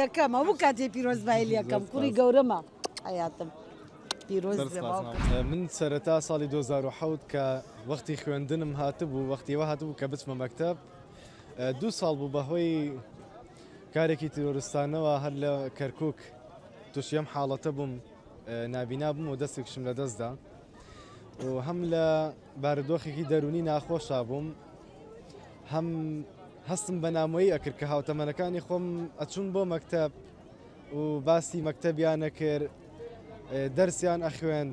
یەکەم هەموو کاتێ پیرۆزبایی لەکەم کوڕی گەورەمە حەیاتم پیرۆز بێ باوکم. من سەرەتا ساڵی 2007 کە وەختی خوێندنم هاتبوو وەختیەوە هاتبوو کە بچمە مەکتب دوو ساڵ بوو بەهۆی کارێکی تیرۆرستانەوە هەر لە کەرکک تووشیم حاڵەتە بووم نابینا بووم و دەستێکشم لە دەستدا و هەم لە بارودۆخێکی دەروونی ناخۆشا بووم، هەم هەستم بە نامۆیی ئەکرد کە هاوتەمەنەکانی خۆم ئەچوون بۆ مەکتەب و باسی مەکتەبیان نەکرد دەرسیان ئەخوێن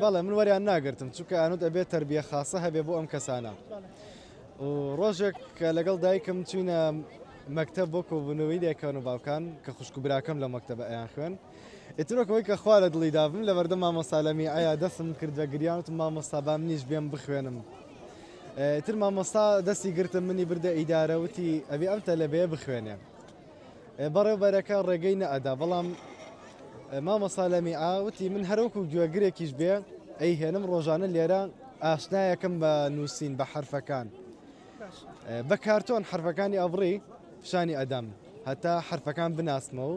بەڵێ من وەریان ناگرتم چونکە ئەنوت ئەبێت تربیە خاصە هەبێ بۆ ئەم کەسانە و ڕۆژێک کە لەگەڵ دایکم چوینە مەکتەب بۆ کۆبوونەوەی دایکان و باوکان کە خوشک و براکەم لە مەکتەبە ئەیان خوێن ئیتر وەک ئەوەی کە خوا لە دڵی دابم لە بەردەم مامۆستا لەمیعەیا دەستم کرد بە گریان وتم مامۆستا با منیش بێم بخوێنم ئیتر مامۆستا دەستی گرتم منی بردە ئیدارە وتی ئەبێ ئەم تەلەبەیە بخوێنێ بەڕێوبەرەکە ڕێگەی نەئەدا بەڵام مامۆستا لەمیعا وتی من هەروەکو گوێگرێکیش بێ ئەی هێنم ڕۆژانە لێرە ئاشنایەکەم بە نووسین بە حرفەکان بە کارتۆن حرفەکانی ئەبڕی پیشانی ئەدەم هەتا حرفەکان بناسمەوە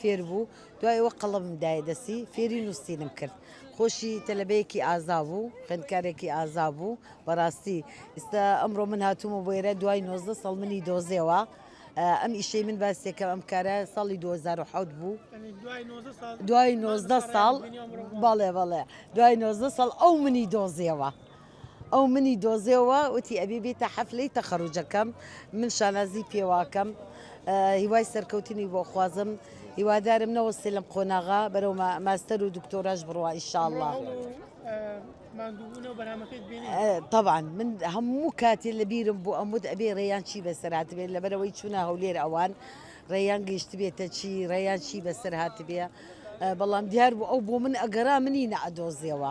فێر بوو دوای ئەوە قەڵەمم دایە دەستی فێری نووسینم کرد خۆشی تەلەبەیەکی ئازا بوو خوێندکارێکی ئازا بوو بەڕاستی ئستا ئەمڕۆ من هاتوومە بۆ ئێرە دوای 19 ساڵ منی دۆزێەوە ئەم ئیشەی من باسێکەم ئەم کارە ساڵی 2010 بوو دوای 19 ساڵ باڵێ بەڵێ دوای 19 ساڵ ئەو منی دۆزیەوە ئەو منی دۆزیەوە وتی ئەبی بیتە حەفلەی تەخەروجەکەم من شانازی پێواکەم هیوای سەرکەوتنی بۆ خوازم هیوادارم نەوەستێ لەم قۆناغا بەرەو ماستەر و دکتۆراش بڕوا ئیشاءاللە طبعا من هەموو کاتێ لە بیرم بۆ ئەمود ئەبێ ڕێیان چی بەسەر هاتبێت لەبەرەوەی چوونە هەولێر ئەوان ڕێیان گەیشت بێتە چی ڕێیان چی بەسەر هاتبێ بەڵام دیار بوو ئەو بۆ من ئەگەرا منی نەعدۆزیەوە.